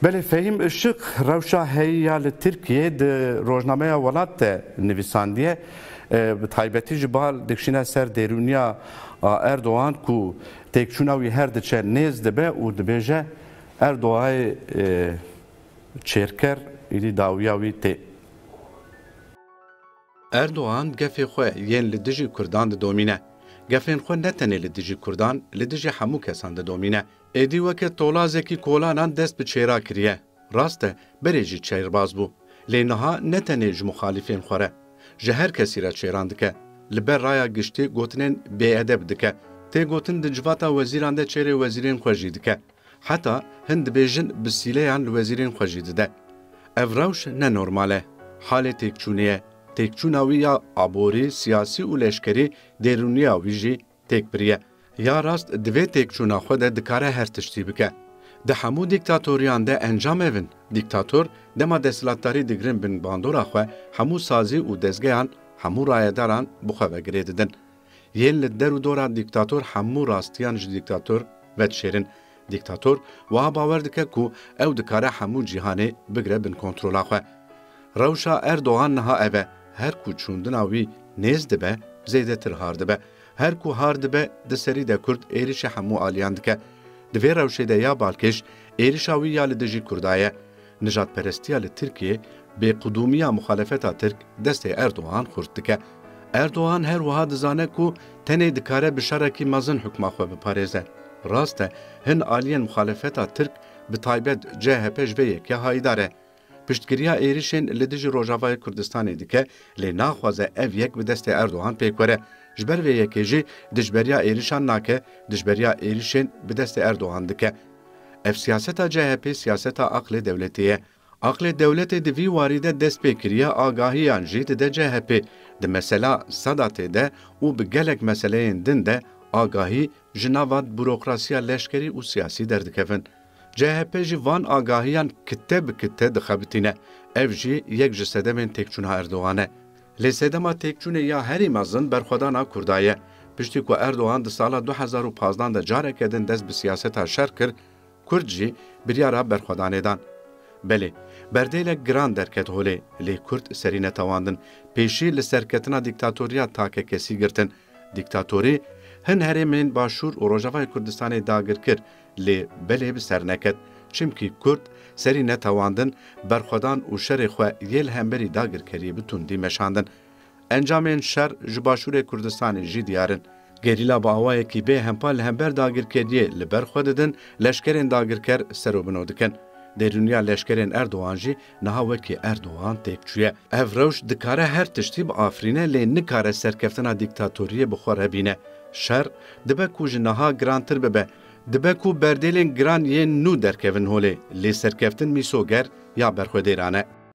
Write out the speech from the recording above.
Belê Fehîm Işık rewşa heyî ya li Tirkiyeyê di Rojnameya Welat de nivîsandiye. Bi taybetî ji bal dikşîne ser dêrûniya Erdogan ku têkçûna wî her diçe nêz dibe û dibêje Erdoayê çêrker, êdî dawiya wî tê. Erdogan gefê xwe yên li dijî Kurdan didomîne. Gefên xwe ne tenê li dijî Kurdan, li dijî hemû kesan didomîne. Êdî weke tolazekî kolanan dest bi çêra kiriye. Rast e, berê jî çeyrbaz bû. Lê niha ne tenê ji muxalîfên xwe re. Ji her kesî re çêran dike. Li ber raya giştî gotinên bêedeb dike. Tê gotin di civata wezîran de çêrê wezîrên xwe jî dike. Heta hin dibêjin bi sîleyan li wezîrên xwe jî dide. Ev rewş ne normal e. Halê têkçûnê ye. Têkçûna wî ya aborî, siyasî û leşkerî dêrûniya wî jî têk biriye. Ya rast di vê têkçûna xwe de dikare her tiştî bike. Di hemû dîktatoriyan de encam ev in. Dîktator dema desthilatdarî digirin bin bandora xwe hemû sazî û dezgeyan hemû rayedaran bi xwe ve girê didin. Yên li der û dora dîktator hemû rastiyan ji dîktator vedişêrin. Dîktator wiha bawer dike ku ew dikare hemû cîhanê bigire bin kontrola xwe. Rewşa Erdogan niha ev e, her ku çûndina wî nêz dibe, zêdetir har dibe. Her ku har dibe, di serî de Kurd êrîşê hemû aliyan dike. Di vê rewşê de ya balkêş, êrîşa wî ya li dijî Kurda ye. Nijadperestiya li Tirkiyê bêqudûmiya muxalefeta Tirk destê Erdogan xurt dike. Erdogan her wiha dizane ku tenê dikare bi şerekî mezin hukma xwe biparêze. Rast e hin aliyên muxalefeta Tirk bi taybet CHP ji vê yekê hayîdar e. Piştgiriya êrişên li dijî Rojavayê Kurdistanê dike lê naxwaze ev yek bi destê Erdogan pêk were. Ji ber vê yekê jî dijberiya êrişan nake, dijberiya êrişên bi destê Erdogan dike. Ev siyaseta CHP'ê siyaseta aqlê dewletê ye. Aqlê dewletê di vî warî de dest pê kiriye agahiyan jî dide CHP'ê di mesela Sedatê de û bi gelek meseleyên din de agahî ji nava burokrasiya leşkerî û siyasî derdikevin. CHP jî van agahiyan kite bi kite dixebitîne. Ev jî yek ji sedemên têkçûna Erdogan e. Lê sedema têkçûnê ya herî mezin berxwedana Kurda ye. Piştî ku Erdogan di sala du hezar û pazdeh de careke din dest bi siyaseta şer kir, Kurd jî biryara berxwedanê dan. Belê, berdêlek giran derket holê, lê Kurd serî netewandin, pêşî li serketina dîktatoriya takekesî girtin. Dîktatorî hin herêmên Başûr û Rojavayê Kurdistanê dagir kir, Lê belê bi ser neket. Çimkî kurd serî netewandin berxwedan û şerê xwe yê li hemberî dagirkeriyê bi tundî meşandin. Encamên şer ji başûrê Kurdistanê jî diyar in. Gerîla bi awayekî bê hempa li hember dagirkeriyê li ber xwe didin, leşkerên dagirker ser û bino dikin. Dêrûniya leşkerên Erdogan jî Niha wekî Erdogan têk çûye, ev rewş dikare her tiştî biafirîne lê nikare serkeftina dîktatoriyê bi xwe re bîne. Şer dibe ku ji niha girantir bibe. Dibe ku berdêlên giran yên nû derkevin holê lê serkeftin mîsoger ya berxwedêran e.